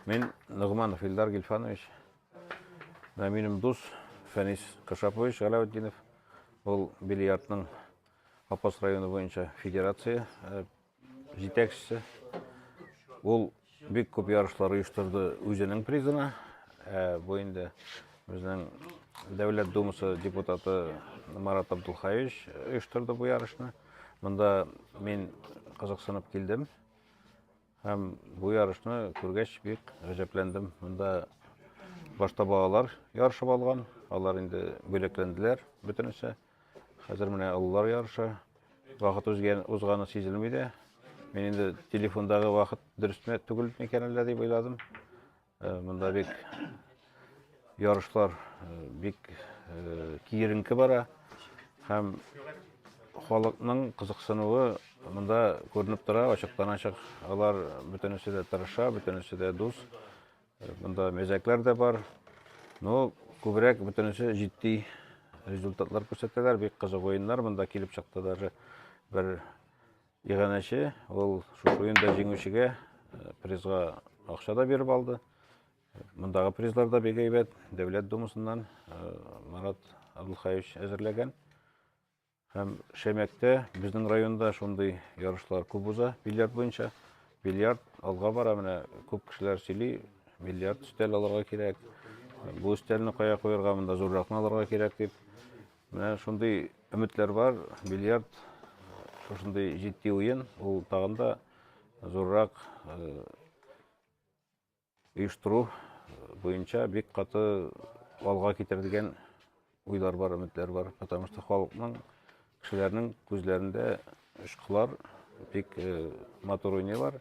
Мин Ногманов Илдар Гильфанович. Менә минем дус Фәнис Кашапович Галәветдинов. Ул бильярдның Апас районы буенча федерация э, җитәкчесе. Ул бик күп ярышлар оештырды үзенең призына. Э, бу инде безнең Дәүләт Думасы депутаты Марат Абдулхаевич оештырды бу ярышны. Монда мин кызыксынып килдем. Һәм бу ярышны күргәч бик гаҗәпләндем. Монда башта балалар ярышып алган, алар инде бүләкләнделәр бөтенесе. Хәзер менә олылар ярышы. Вакыт узган, узганы сизелми дә. Мин инде телефондагы вакыт дөресме түгел микән әллә дип уйладым. Монда бик ярышлар бик киеренке бара һәм халыкның кызыксынуы монда күренеп тора, ачыктан ачык. Алар бөтенесе дә тырыша, бөтенесе дә дус. Монда мәзәкләр дә бар. Но күбрәк бөтенесе җитди результатлар күрсәтәләр, бик кызык уеннар монда килеп чыкты даже бер Иганәче ул шушы уенда җиңүчегә э, призга акча да биреп алды. Мондагы призлар да бик әйбәт. Дәүләт думасыннан э, Марат Абдулхаевич әзерләгән. Һәм Шәмәктә безнең районда шундый ярышлар күп уза бильярд буенча. Бильярд алга бара, менә күп кешеләр сөйли, бильярд өстәл алырга кирәк. Бу өстәлне кая куярга, монда зурракны алырга кирәк дип. Менә шундый өметләр бар. Бильярд шушындый җитди уен, ул тагын да зуррак оештыру буенча бик каты алга китер дигән уйлар бар, өметләр бар. Потому что халыкның, кешеләрнең күзләрендә школар бик матур уйныйлар.